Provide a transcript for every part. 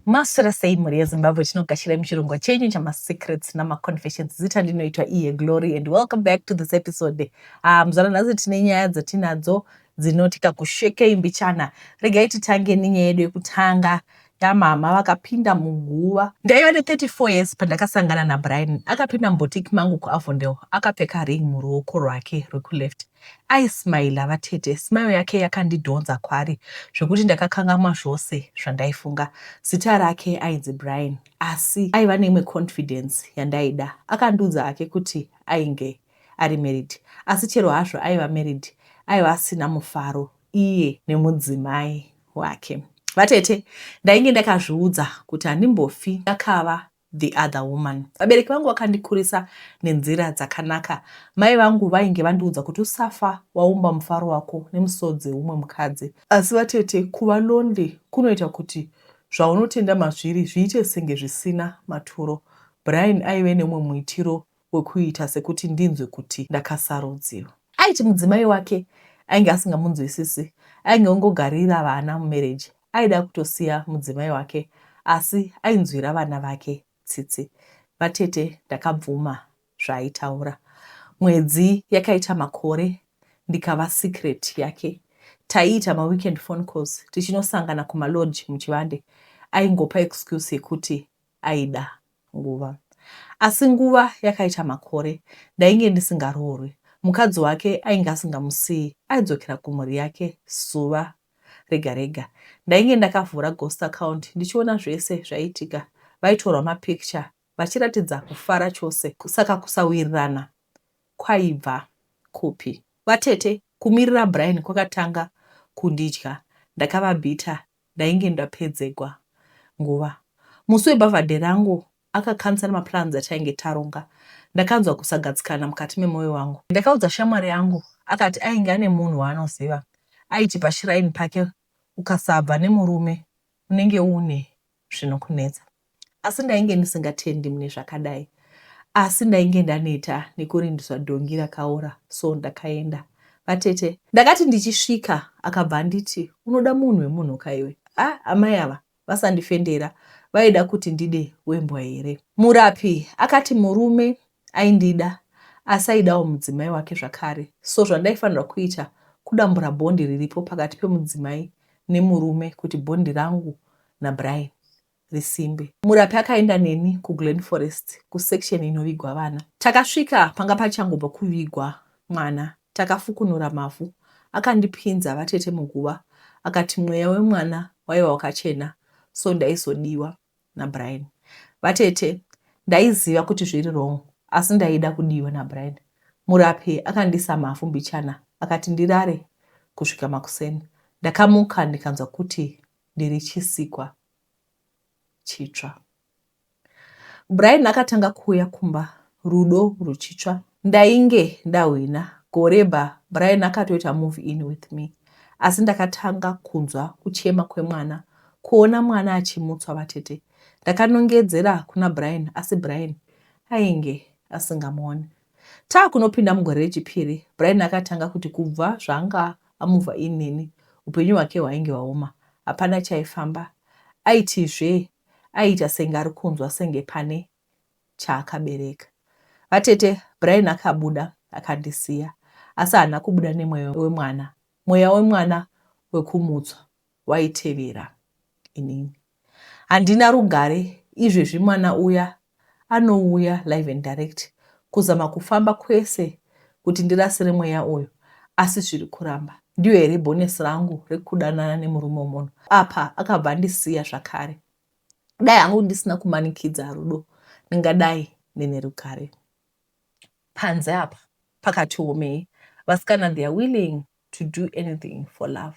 Maswera sei mhuri yezimbabwe tinogashirayi muchirongwa chenyu chamasecrets namaconfessions zita ndinoitwa iye glory and welcome back to this episode ah, muzvana nhasi tine nyaya dzatinadzo dzinoti kakushekei mbichana regai titange nenyaya yedu yekutanga yamama vakapinda muguva ndaiva ne34 years pandakasangana nabrian akapinda mubotiki mangu kuavondel akapfeka ring muruoko rwake rwekuleft Aismailer vatete, smile yake yakandidhonza kwaari zvekuti ndakakangamwa zvose zvandaifunga. Zita rake ainzi Brian asi aiva neimwe confidence yandaida. Akandiudza hake kuti ainge ari married asi chero hazvo aiva married aiva asina mufaro iye nemudzimai wake. Vatete, ndainge ndakazviudza kuti handimbofi ndakava the other woman. Vabereki vangu vakandikurisa nenzira dzakanaka. Mai vangu vainge vandiudza kuti usafa waumba mufaro wako nemusodzi weumwe mukadzi. Asi vatete, kuva lonely kunoita kuti zvaunotenda mazviri zviite senge zvisina maturo. Brian aive neumwe muitiro wekuita sekuti ndinzwe kuti ndakasarudziwa. Aiti mudzimai wake ainge asingamunzwisisi, ainge ongogarira vana mumereji, aida kutosiya mudzimai wake asi ainzwira vana vake tsitsi. Vatete ndakabvuma zvaaitaura. Mwedzi yakaita makore ndikava secret yake. Taiita maweekend phone calls tichinosangana kumalodge muchivande. Aingopa excuse yekuti aida nguva asi nguva yakaita makore ndainge ndisingaroorwi mukadzi wake ainge asingamusiyi aidzokera kumhuri yake zuva rega rega ndainge ndakavhura ghost account ndichiona zvese zvaiitika vaitorwa mapicture vachiratidza kufara chose saka kusawirirana kwaibva kupi vatete kumirira brian kwakatanga kundidya ndakavabhita ndainge ndapedzegwa nguva. Musi webhavhadhe rangu akacancela maplans atainge taronga. Ndakanzwa kusagadzikana mukati memoyo wangu. Ndakaudza shamwari yangu akati ainge ane munhu waanoziva aiti pashrine pake ukasabva nemurume unenge uune zvinokunetsa. Asi ndainge ndisingatendi mune zvakadai. Asi ndainge ndaneta nekurindisa dhongi rakaora so ndakaenda. Vatete, ndakati ndichisvika akabva anditi unoda munhu wemunhu kaiwe. Ah, amai ava vasandifendera vaida kuti ndide wembwa here. Murapi akati murume aindida asi aidawo mudzimai wake zvakare so zvandaifanirwa kuita kudambura bhondi riripo pakati pemudzimai nemurume kuti bhondi rangu naBrian risimbe. Murapi akaenda neni kuGlen Forest kusection inovigwa vana. Takasvika panga pachangobva kuvigwa mwana takafukunura mavhu akandipinza vatete muguva akati mweya wemwana waiva wakachena so ndaizodiwa naBrian. Vatete ndaiziva kuti zviri wrong asi ndaida kudiwa naBrian. Murapi akandiisa mavhu mbichana akati ndirare kusvika makuseni. Ndakamuka ndikanzwa kuti ndiri chisikwa chitsva. Brian akatanga kuuya kumba rudo ruchitsva. Ndainge ndahwina gore ba Brian akatoita move in with me asi ndakatanga kunzwa kuchema kwemwana kuona mwana achimutswa vatete. Ndakanongedzera kuna Brian asi Brian ainge asingamuone. Taakunopinda mugore rechipiri, Brian akatanga kuti kubva zvaanga amuvha inini, upenyu hwake hwainge hwaoma, hapana chaifamba. Aiti zvee, aiita senge ari kunzwa senge pane chaakabereka. Vatete, Brian akabuda akandisiya, asi haana kubuda nemweya wemwana, mweya wemwana wekumutswa waitevera. Inini. Handina rugare izvezvi mwana uya anouya live and direct kuzama kufamba kwese kuti ndirasire mweya uyu asi zviri kuramba. Ndiyo here bonus rangu rekudanana nemurume wemunhu? Apa akabva andisiya zvakare. Dai hangu ndisina kumanikidza rudo ndingadai ndine rugare. Panze apa pakati womei. Vasikana they are willing to do anything for love.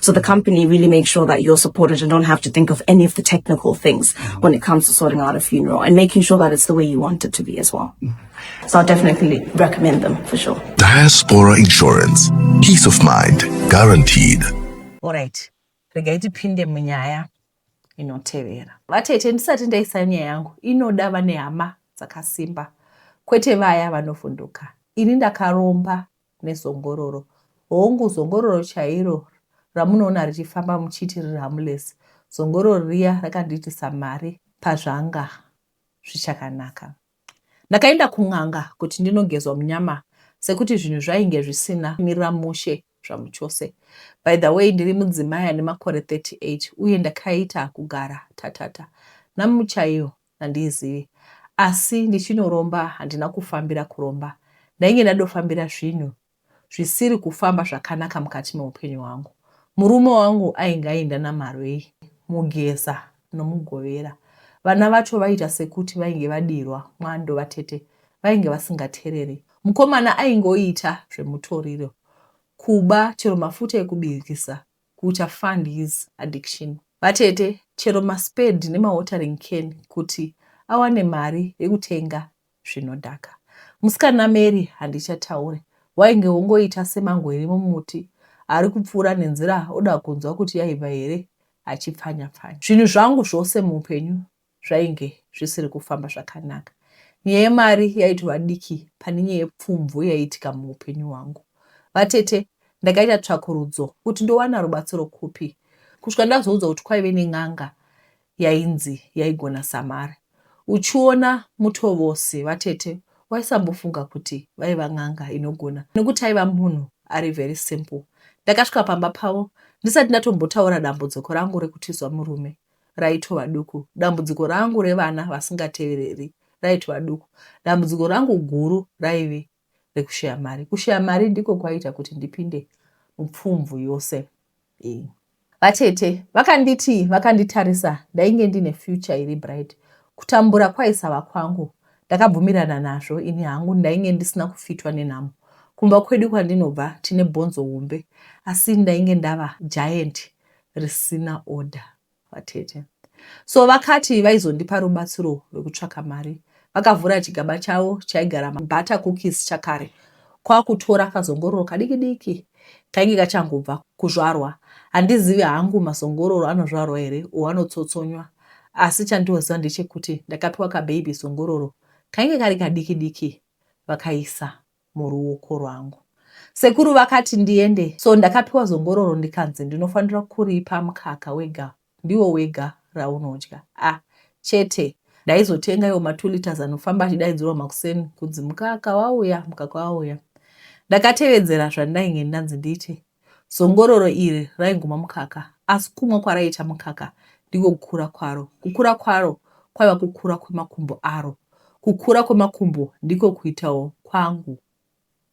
So the company really makes sure that you're supported and don't have to think of any of the technical things when it comes to sorting out a funeral and making sure that it's the way you want it to be as well. So I'll definitely recommend them for sure. Diaspora Insurance. Peace of mind guaranteed. All right. regai tipinde munyaya inotevera vatete ndisati ndaisa nyaya yangu inoda vane hama dzakasimba kwete vaya vanovhunduka ini ndakaromba nezongororo. Hongu, zongororo chairo ramunoona richifamba muchiti riri harmless, zongororo riya rakandiitisa mari pazvanga zvichakanaka. Ndakaenda kun'anga kuti ndinogezwa munyama sekuti zvinhu zvainge zvisina mirira mushe zvamuchose. By the way, ndiri mudzimai ane makore 38 uye ndakaita kugara tatata namuchaiyo Handiizivi asi ndichinoromba handina kufambira kuromba ndainge ndadofambira zvinhu zvisiri kufamba zvakanaka mukati meupenyu hwangu. Murume wangu ainge aenda naMarwei, Mugeza noMugovera. Vana vacho vaiita sekuti vainge vadirwa mwando vatete vainge vasingatereri. Mukomana aingoita zvemutoriro, kuba chero mafuta ekubikisa kucha fund his addiction. Vatete chero ma spade nema watering can kuti awane mari yekutenga zvinodhaka. Musikana Mary handichataure wainge wongoita semango iri mumuti ari kupfuura nenzira oda kunzwa kuti yaibva here achipfanya pfanya. Zvinhu zvangu zvose muupenyu zvainge zvisiri kufamba zvakanaka. Nyaya yemari yaitova diki pane nyaya yepfumvu yaiitika muupenyu hwangu. Vatete ndakaita tsvakurudzo kuti ndowana rubatsiro kupi kusvika ndazoudzwa kuti kwaive nen'anga yainzi yaigona samari. Uchiona Mutovosi vatete waisambofunga kuti vaiva n'anga inogona nekuti aiva munhu ari very simple. Ndakasvika pamba pavo ndisati ndatombotaura dambudziko rangu rekutizwa murume. raitova duku. Dambudziko rangu revana vasingatevereri raitova duku. Dambudziko rangu guru raive rekushaya mari. Kushaya mari ndiko kwaiita kuti ndipinde mupfumvu yose iyi. Vatete vakanditi vakanditarisa ndainge ndine future iri bright. Kutambura kwaisava kwangu ndakabvumirana nazvo ini hangu ndainge ndisina kufitwa nenhamo. Kumba kwedu kwandinobva tine bhonzo hombe asi ndainge ndava giant risina order vatete so vakati vaizondipa rubatsiro rwekutsvaka mari vakavhura chigaba chavo chaigara butter cookies chakare kwakutora kazongororo kadiki diki kainge kachangobva kuzvarwa handizivi hangu mazongororo anozvarwa here o anotsotsonywa asi chandioziva ndechekuti ndakapiwa kababy zongororo kainge kari kadiki diki vakaisa muruoko rwangu sekuru vakati ndiende so ndakapiwa zongororo ndikanzi ndinofanira kuripa mukaka wega ndiwo wega raunodya ah chete ndaizotenga iwo ma 2 liters anofamba achidaidzirwa makuseni kunzi mukaka wauya mukaka wauya ndakatevedzera zvandainge ndanzi ndiite Zongororo iri raiguma mukaka, asi kumwa kwaraiita mukaka ndiko kukura kwaro. Kukura kwaro kwaiva kukura kwemakumbo aro. Kukura kwemakumbo ndiko kuitawo kwangu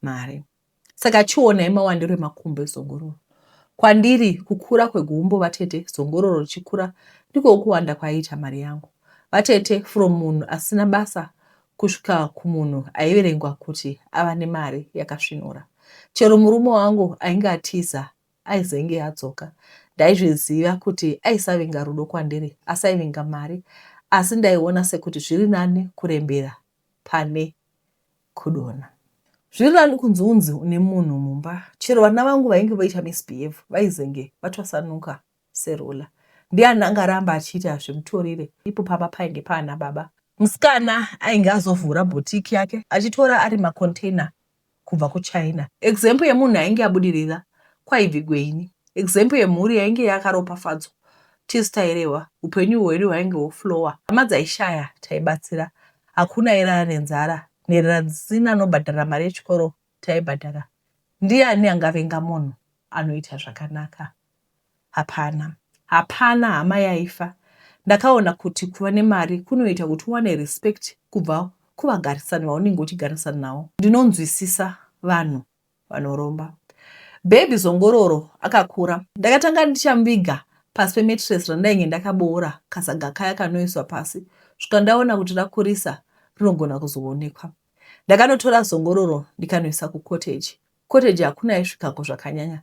mari. Saka chionai mawandiro emakumbo ezongororo. Kwandiri, kukura kwegumbo vatete zongororo richikura ndiko kuwanda kwaiita mari yangu. Vatete, from munhu asina basa kusvika kumunhu aiverengwa kuti ava nemari yakasvinura. Chero murume wangu ainge atiza aizenge adzoka. Ndaizviziva kuti aisavinga rudo kwandiri asi aivinga mari asi ndaiona sekuti zviri nani kurembera pane kudona. Zviri nani kunzi unzi une munhu mumba. Chero vana vangu vainge voita misbehave vaizenge vatwasanuka Serula ndiani angaramba achiti hazvimutorire ipo pamba painge paana baba. Musikana ainge azovhura boutique yake achitora ari macontainer kubva kuChina. Example yemunhu ainge abudirira kwaivigwe ini. Example yemhuri yainge yakaropafadzwa tisu tairehwa upenyu hwedu hwainge hwoflower. Hama dzaishaya taibatsira. Hakuna airara nenzara nherera dzisina anobhadhara mari yechikoro taibhadhara ndiani angavenga munhu anoita zvakanaka hapana hapana hama yaifa ndakaona kuti kuva nemari kunoita kuti uwane respect kubva kuvagarisani vaunenge uchigarisana navo ndinonzwisisa vanhu vanoromba bhebhi zongororo akakura ndakatanga ndichamuviga pasi pemetres randainge ndakaboora kasaga kaya kanoiswa pasi svuka ndaona kuti rakurisa rinogona kuzoonekwa Ndakanotora zongororo ndikanoisa kukoteji. Kukoteji hakuna aisvikako zvakanyanya.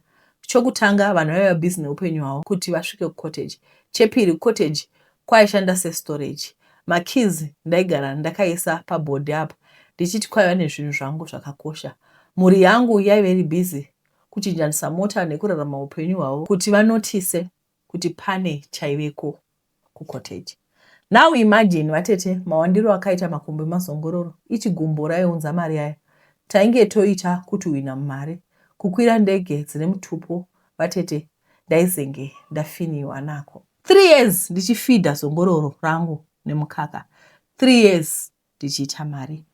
Chokutanga, vanhu vaiva busy neupenyu hwavo kuti vasvike kukoteji. Chepiri, kukoteji kwaishanda sestorage. Makeys ndaigara ndakaisa paboard apa ndichiti kwaiva nezvinhu zvangu zvakakosha. Mhuri yangu yaiva iri busy kuchinjanisa mota nekurarama upenyu hwavo kuti vanotise kuti pane chaiveko kucottage now imagine vatete mawandiro akaita makumbo emazongororo ichi gumbo raiunza mari aya tainge toita kutuhwina mumari kukwira ndege dzine mutupo vatete ndaizenge ndafiniwa nako three years ndichifidha zongororo rangu nemukaka three years ndichiita mari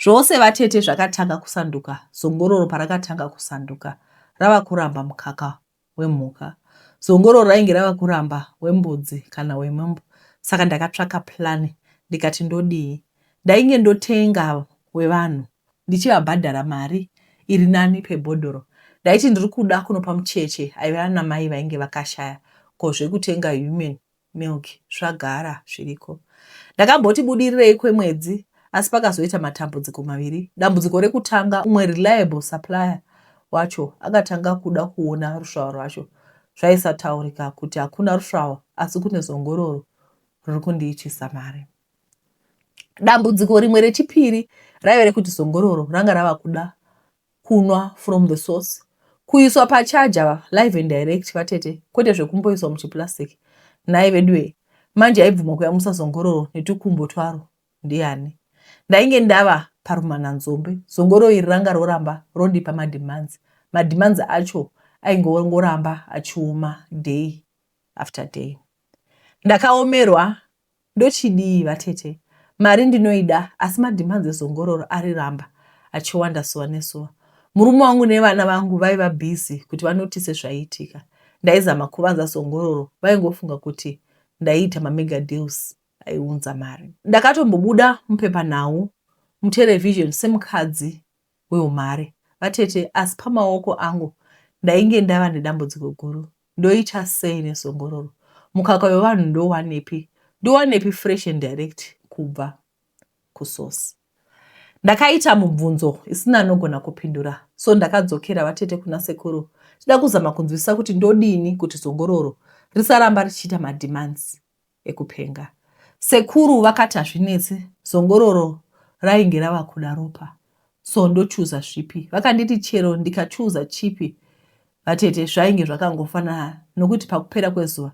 zvose vatete zvakatanga kusanduka zongororo parakatanga kusanduka rava kuramba mukaka wemhuka. Zongororo rainge rava kuramba wembudzi kana wemombe saka ndakatsvaka plan ndikati ndodii. Ndainge ndotenga wevanhu ndichivabhadhara mari iri nani pebhodhoro. Ndaiti ndiri kuda kunopa mucheche aive ana mai vainge vakashaya ko zvekutenga human milk zvagara zviriko. Ndakamboti budirirei kwemwedzi asi pakazoita matambudziko maviri. Dambudziko rekutanga umwe reliable supplier wacho akatanga kuda kuona rusvava rwacho zvaisataurika kuti hakuna rusvava asi kune zongororo riri kundiitisa mari. Dambudziko rimwe rechipiri raive rekuti zongororo ranga rava kuda kunwa from the source kuiswa pachaja live and direct vatete kwete zvekumboiswa muchiplastic nhai veduwee manje aibvuma kuyamusa zongororo netukumbo twaro ndiani ndainge ndava parumananzombe zongororo iri ranga roramba rondipa mademands mademands acho aingongoramba achioma day after day ndakaomerwa Ndochidii vatete? Mari ndinoida asi madhimandzi ezongororo ari ramba achiwanda suva nesuva. Murume wangu nevana vangu vaiva busy kuti vanotise zvaiitika. Ndaizama kuvanza zongororo vaingofunga kuti ndaiita mamega deals aiunza mari. Ndakatombobuda mupepanhau, muterevhizheni semukadzi weumhare. Vatete, asi pamaoko angu ndainge ndava nedambudziko guru. Ndoita sei nezongororo? Mukaka wevanhu ndowanepi? Ndowanepi fresh and direct kubva kusource? Ndakaita mubvunzo isina anogona kupindura so ndakadzokera vatete kuna sekuru tida kuzama kunzwisisa kuti ndodini kuti zongororo risaramba richiita mademands. ekupenga. Sekuru vakati hazvinetse zongororo rainge rava kuda ropa so ndochuza zvipi. Vakanditi chero ndikachuza chipi vatete zvainge zvakangofanana nokuti pakupera kwezuva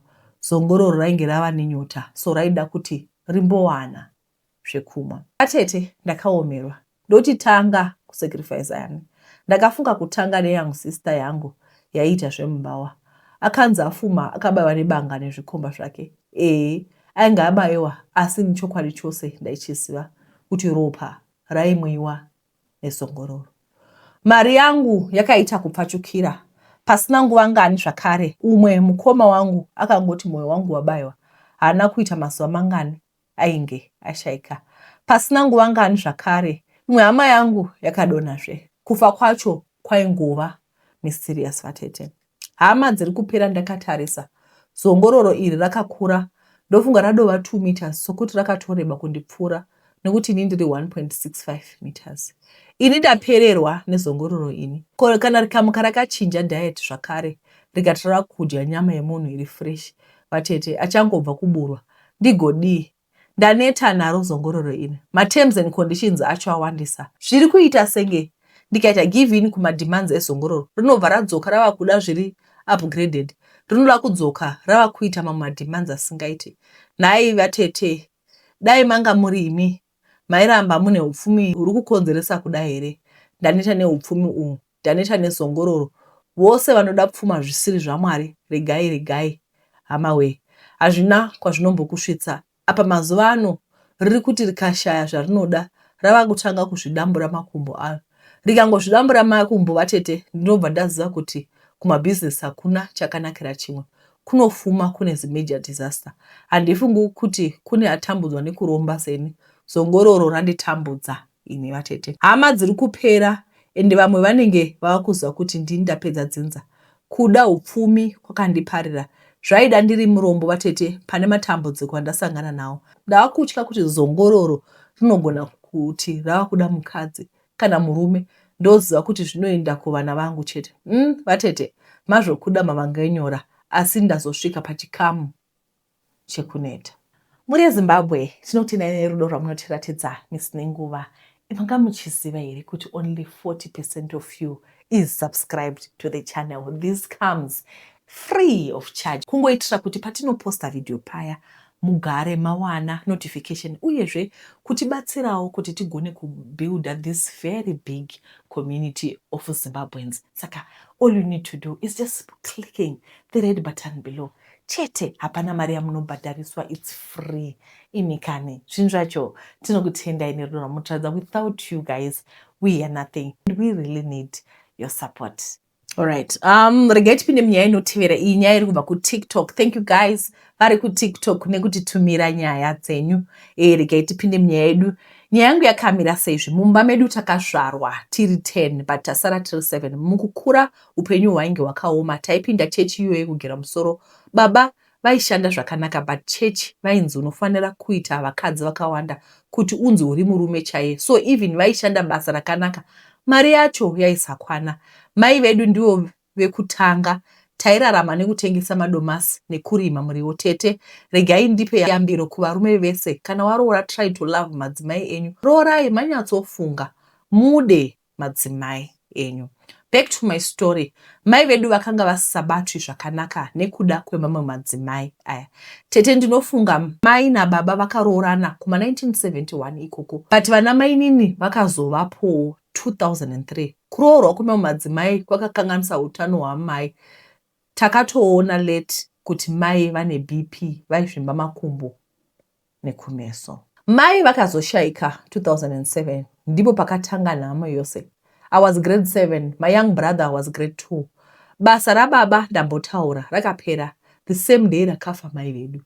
zongororo rainge rava nenyota so raida kuti rimbowana. zvekumwa. Atete ndakaomerwa ndoti tanga ku sacrifice ani ndakafunga kutanga ne young sister yangu yaiita zvemumbawa akanzi afuma akabaiwa nebanga nezvikomba zvake ee ainge abaiwa asi ni chokwadi chose ndaichiziva kuti ropa raimwiwa nesongororo. Mari yangu yakaita kupfachukira pasina nguva ngani zvakare umwe mukoma wangu akangoti moyo wangu wabaiwa haana kuita mazuva mangani ainge ashaika. Pasina nguva ngani zvakare imwe hama yangu yakadonhazve. Kufa kwacho kwaingova mysterious vatete. Hama dziri kupera ndakatarisa zongororo iri rakakura ndofunga radova 2 meters sokuti rakatoreba kundipfuura nekuti ini ndiri 1.65 meters. Ini ndapererwa nezongororo ini. Ko kana rikamuka rakachinja diet zvakare rikati rava kudya nyama yemunhu iri fresh vatete achangobva kuburwa ndigodii ndaneta naro zongororo iri materms and conditions acho awandisa zviri kuita senge ndikaita give in kumademands ezongororo rinobva radzoka rava kuda zviri upgraded rinoda kudzoka rava kuita mamwe mademands asingaite nhai vatete dai manga muri imi mairamba mune upfumi huri kukonzeresa kuda here ndaneta neupfumi uhu taneta nezongororo vose vanoda pfuma zvisiri zvaMwari regai regai hamawee hazvina kwazvinombokusvitsa apa mazuva ano ririkuti rikashaya zvarinoda ravakutanga kuzvidambura makumbo aro rikangozvidambura makumbo vatete ndinobva ndaziva kuti kumabusiness hakuna chakanakira chimwe kunofuma kune zimajor disaster handifungi kuti kune atambudzwa nekuromba seni zongororo randitambudza Imi vatete hama dziri kupera ende vamwe vanenge vava kuziva kuti ndini ndapedza dzinza. Kuda hupfumi kwakandiparira. Zvaida ndiri murombo vatete pane matambudziko andasangana nawo. Ndava kutya kuti zongororo rinogona kuti rava kuda mukadzi kana murume ndoziva kuti zvinoenda kuvana vangu chete. Umm vatete mazvokuda mavanganyora asi ndazosvika pachikamu. chekuneta. Mhuri yeZimbabwe tinotenai nerudo rwamunotiratidza misi nenguva. Manga muchiziva here kuti only 40 percent of you is subscribed to the channel. This comes free of charge kungoitira kuti patinoposta video paya mugare mawana notification uyezve kutibatsirawo kuti tigone kubuilder this very big community of zimbabweans saka all you need to do is just clicking the red button below chete hapana mari yamunobhadhariswa its free imi kani zvinhu zvacho tinokutendai nerudo rwamutiradza without you guys we hear nothing and we really need your support Alright. Um, regai tipinde munyaya inotevera iyi nyaya iri kubva kutiktok thank you guys vari kutiktok nekutitumira nyaya dzenyu e, regai tipinde munyaya yedu nyaya yangu yakamira seizvi mumba medu takazvarwa tiri 10 but tasara tiri 7 mukukura Upenyu hwainge hwakaoma, taipinda chechi iyoyo kugera musoro. Baba vaishanda zvakanaka but chechi vainzi unofanira kuita vakadzi vakawanda kuti unzi uri murume chaiye so even vaishanda basa rakanaka mari yacho yaisakwana. Mai vedu ndivo vekutanga tairarama nekutengesa madomasi nekurima muriwo. Tete, regai ndipe yambiro kuvarume vese, kana waroora try to love madzimai enyu. Roorai manyatsofunga, mude madzimai enyu. Back to my story, mai vedu vakanga vasisabatwi zvakanaka nekuda kwemamwe madzimai aya. Tete ndinofunga mai nababa vakaroorana kuma 1971 ikoko but vana mainini vakazovapowo 2003. Kuroorwa kwemamwe madzimai kwakakanganisa utano hwamai. Takatoona late kuti mai vane BP, vaizvimba makumbo. nekumeso. Mai vakazoshaika 2007 ndipo pakatanga nhamo yose. I was grade 7, my young brother was grade 2. Basa rababa ndambotaura rakapera the same day rakafa mai vedu.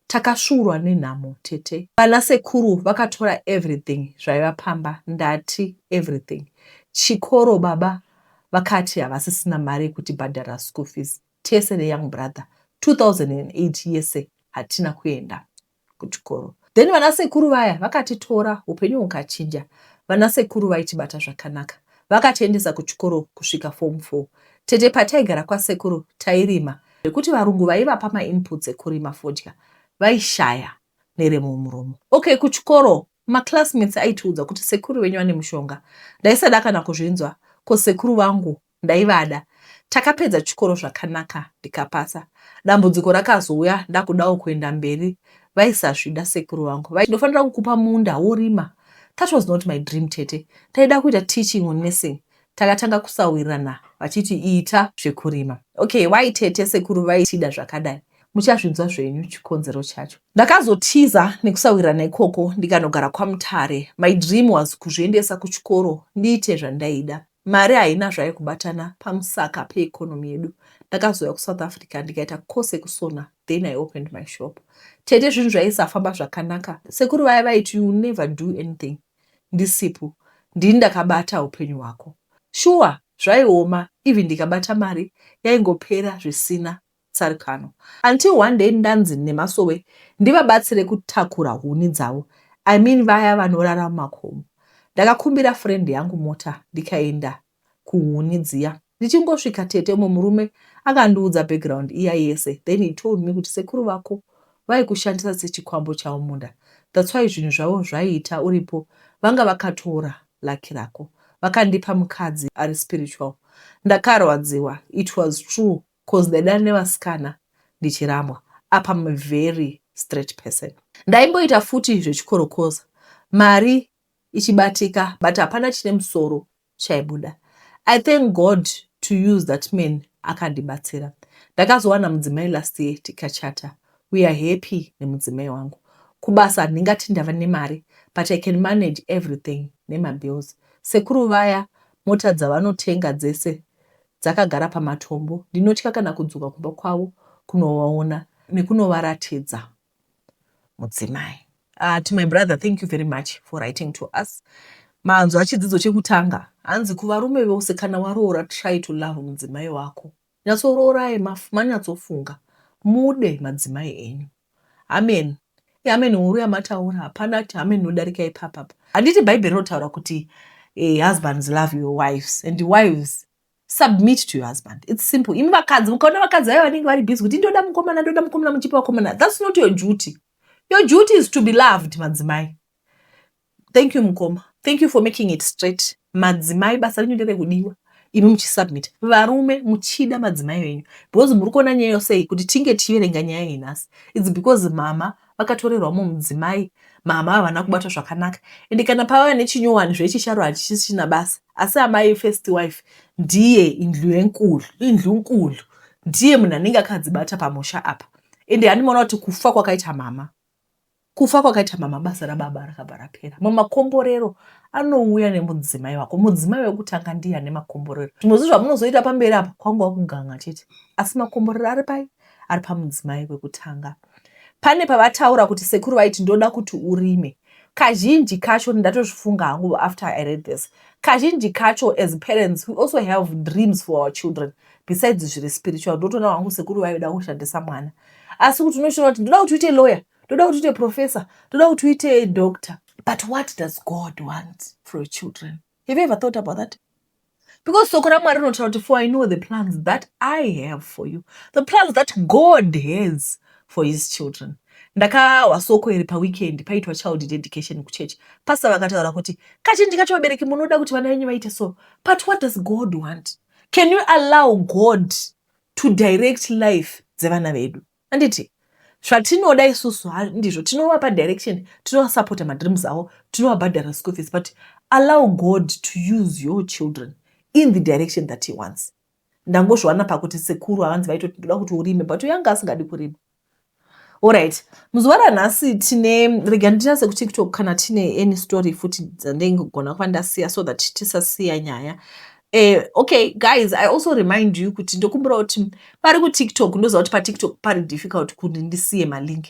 Takasvuurwa nenhamo tete. Vana sekuru vakatora everything zvaiva pamba ndati everything. Chikoro baba vakati havasisina mari yekutibhadhara school fees. tese ne young brother 2008 yese hatina kuenda kuchikoro then vana sekuru vaya vakatitora upenyu hukachinja vana sekuru vaitibata zvakanaka vakatiendesa kuchikoro kusvika form 4 tete pataigara kwasekuru tairima zvekuti varungu vaivapa mainputs ekurima fodya vaishaya neremumuromo okay kuchikoro maclassmates aitiudza kuti sekuru venyu vane mushonga ndaisada kana kuzvinzwa ko sekuru vangu Ndaivada. Takapedza chikoro zvakanaka ndikapasa. Dambudziko rakazouya ndakudawo kuenda mberi vaisazvida sekuru vangu vaiti ndofanira kukupa munda worima. That was not my dream tete. Ndaida kuita teaching or nursing. Takatanga kusawirirana vachiti ita zvekurima. Okay why tete sekuru vaitida zvakadai? Muchazvinzwa zvenyu chikonzero chacho. Ndakazotiza nekusawirirana ikoko ndikanogara kwaMutare. My dream was kuzviendesa kuchikoro ndiite zvandaida. Mari haina zvaikubatana pamusaka pe economy yedu. Ndakazouya ku South Africa ndikaita course yekusona then I opened my shop. Tete zvinhu zvaisafamba zvakanaka. Sekuru vaya vaiti you never do anything ndisipo. Ndini ndakabata hupenyu hwako. Shuwa zvaioma even ndikabata mari yaingopera zvisina tsarikano until one day ndanzi nemasowe ndivabatsire kutakura huni dzavo I mean vaya vanorara mumakomo. Ndakakumbira friend yangu mota ndikaenda kuhuni dziya. Ndichingosvika tete umwe murume akandiudza background iya yese then he told me kuti sekuru vako vaikushandisa sechikwambo chavo munda that's why zvinhu zvavo zvaiita uripo vanga vakatora lucky rako vakandipa mukadzi ari spiritual. Ndakarwadziwa it was true Coz ndaidana nevasikana ndichiramwa apa I'm a very straight person. Ndaimboita futi zvechikorokoza mari ichibatika but hapana chine musoro chaibuda. I thank God to use that man akandibatsira. Ndakazowana mudzimai last year tikachata. We are happy nemudzimai wangu. Kubasa handingati ndava nemari but I can manage everything nemabills. Sekuru vaya mota dzavanotenga dzese dzakagara pamatombo, ndinotya kana kudzoka kumba kwavo kunovaona nekunovaratidza mudzimai. Uh, to my brother thank you very much for writing to us manzwa chidzidzo chekutanga hanzi kuvarume vose kana waroora try to love mudzimai wako nyatsoroorai manyatsofunga mude madzimai enyu Amen iamen huru yamataura hapana kuti amen inodarika ipapa apa handiti bhaibheri rinotaura kuti eh, husbands love your wives and wives submit to your husband its simple imi vakadzi mukaona vakadzi vayo vanenge vari busy kuti ndoda mukomana ndoda mukomana muchipa vakomana thats not your duty your duty is to be loved madzimai Thank you mukoma. Thank you for making it straight. Madzimai basa renyu nderekudiwa imi muchisubmit varume muchida madzimai venyu because muri kuona nyaya yosei kuti tinge tichiverenga nyaya iyi nhasi its because mama vakatorerwa mumwe mudzimai mama havana kubatwa zvakanaka ende kana pavava nechinyowani zvechicharo hachisisina basa asi amai first wife ndiye indlu yenkulu indlu nkulu ndiye munhu anenge akadzibata pamusha apa ende handimaona kuti kufa kwakaita mama Kufa kwakaita mama basa rababa rakabva rapera. Mamwe makomborero anouya nemudzimai wako. Mudzimai wekutanga ndiye ane makomborero. Zvimwe zvinhu zvamunozoita pamberi apa kwangova kuganga chete, asi makomborero ari pai? Ari pamudzimai wekutanga. Pane pavataura kuti sekuru vaiti ndoda kuti urime kazhinji kacho ndatozvifunga hangu after i read this kazhinji kacho as parents we also have dreams for our children besides zviri spiritual ndotoona wangu sekuru vaida kushandisa mwana asi kuti unoshona kuti ndoda kuti uite lawyer ndoda kuti uite professor ndoda kuti uite doctor but what does god want for your children have you ever thought about that because soko ramwari rinotaura kuti for i know the plans that i have for you the plans that god has for his children ndakahwa soko iri paweekend paitwa child dedication kuchechi pasa vakataura kuti kazhinji kacho vabereki munoda kuti vana venyu vaite so but what does god want Can you allow God to direct life dzevana vedu? Anditi zvatinoda isusu ndizvo tinovapa direction, tinovasupporta madreams avo, tinovabhadhara school fees, but allow God to use your children in the direction that he wants. Ndangozviwana pakuti sekuru havanzi vaitoti ndoda kuti urime but uyanga asingadi kurima. Alright, muzuva ranhasi tine rega nditarse kutiktok kana tine any story futi dzandingogona kuva ndasiya so that tisasiya nyaya uh, okay guys i also remind you kuti ndokumbira kuti pari kutiktok ndoziva kuti patiktok pari difficult kuti ndisiye malink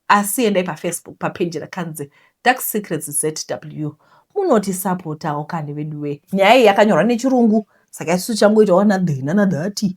asi endai pafacebook papeji rakanzi dark secrets zw munotisapotawo kani veduwe nyaya iyi yakanyorwa nechirungu saka isu changoitawo nadhina nadhati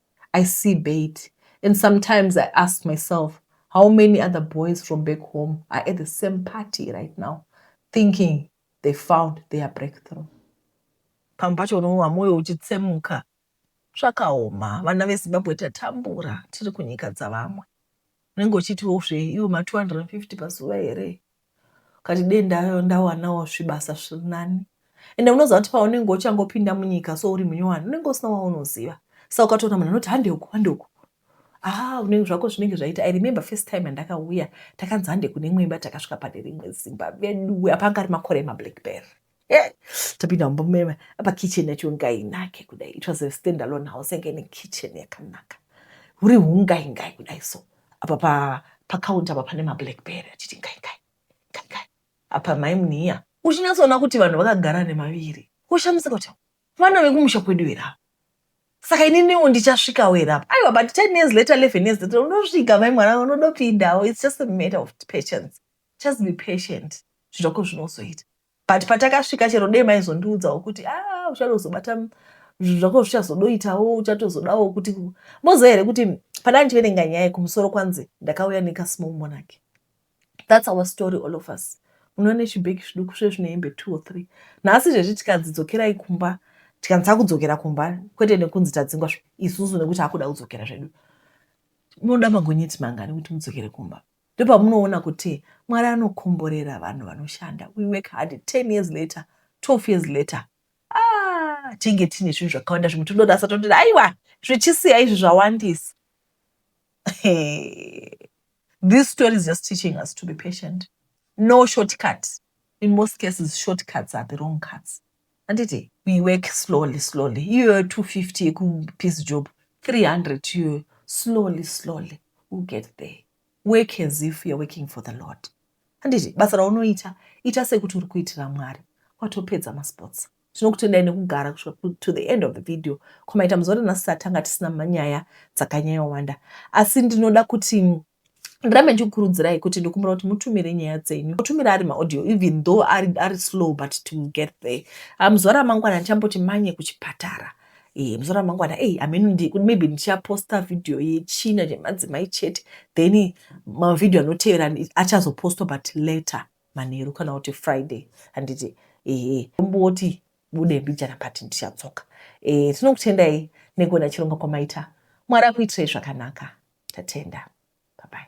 I see bait and sometimes I ask myself how many other boys from back home are at the same party right now thinking they found their breakthrough. Pamwe pacho unowa moyo uchitsemuka zvakaoma vana vezimbabwe tatambura tiri kunyika dzavamwe unenge uchitiwo zve iwo ma 250 pazuva here Ukati dei ndawanawo zvibasa zviri nani ende unoziva kuti paunenge uchangopinda munyika so uri munyowani unenge usina waunoziva sa ukatoona munhu anoti hande uku hande uku ah unenge zvako zvinenge zvaita i remember first time andakauya takanzi hande kune imwe imba takasvika pane rimwe zimba veduwe apa anga ari makore emablackberry Eh, tapinda mumba mumema apa kitchen yacho ingainake kudai it was a stand alone house yanga ine kitchen yakanaka huri hungaingai kudai so apa pa pacounter apa pane mablackberry achiti ngaingai ngaingai apa mai muniya uchinyatsoona kuti vanhu vakagara nemaviri ushamisika kuti vana vekumusha kwedu here ava saka ininiwo ndichasvikawo here apa aiwa but ten years later eleven years later unosvika mai mwana unodopindawo its just a matter of patience Just be patient zvako zvinozoita but patakasvika chero dei maizondiudzawo kuti a ah, uchatozobata zvinhu zvako zvichazodoitawo uchatozodawo kuti moziva here kuti pana ndichiverenga nyaya kumusoro kwanzi ndakauya nekasmall monarch thats our story all of us unoona nechibheki zviduku zve zvine hembe two or three nhasi zvezvi tikanzi dzokerai kumba tikanzi takudzokera kumba kwete nekunzi tadzingwa isusu nekuti akuda kudzokera zvedu munoda magonyeti mangani kuti mudzokere kumba ndopamunoona kuti Mwari anokomborera vanhu vanoshanda we work hard 10 years later 12 years later ah tinge tine zvinhu zvakawanda zvimwe todorasa toti aiwa zvichisiya izvi zvawandisa this story is just teaching us to be patient no shortcut in most cases shortcuts are the wrong cuts handiti we work slowly slowly iyoyo 250 yekupeace job 300 iyoyo slowly slowly u get there work as if youare working for the lord handiti basa raunoita ita sekuti uri kuitira mwari watopedza masports tinokutendai nekugara kusvika to the end of the video komaita muzore nhasi tatanga tisina manyaya dzakanyayowanda asi ndinoda kuti ndirambe ndichikukurudzirai kuti ndikumbira kuti mutumire nyaya dzenyu mutumire ari maaudio even though ari, ari slow but to get there ah, muzuva ramangwana ndichamboti manye kuchipatara e, eh, muzuva ramangwana ei ameno maybe ndichaposta vhidhiyo yechina chemadzimai chete then mavhidhiyo anotevera achazopostwa but later manheru kana kuti friday handiti ehe omboti Budai mbijana but ndichadzoka. Eh, tinokutendai nekuona chirongwa kwamaita. Mwari akuitirai zvakanaka. Tatenda. Bye bye.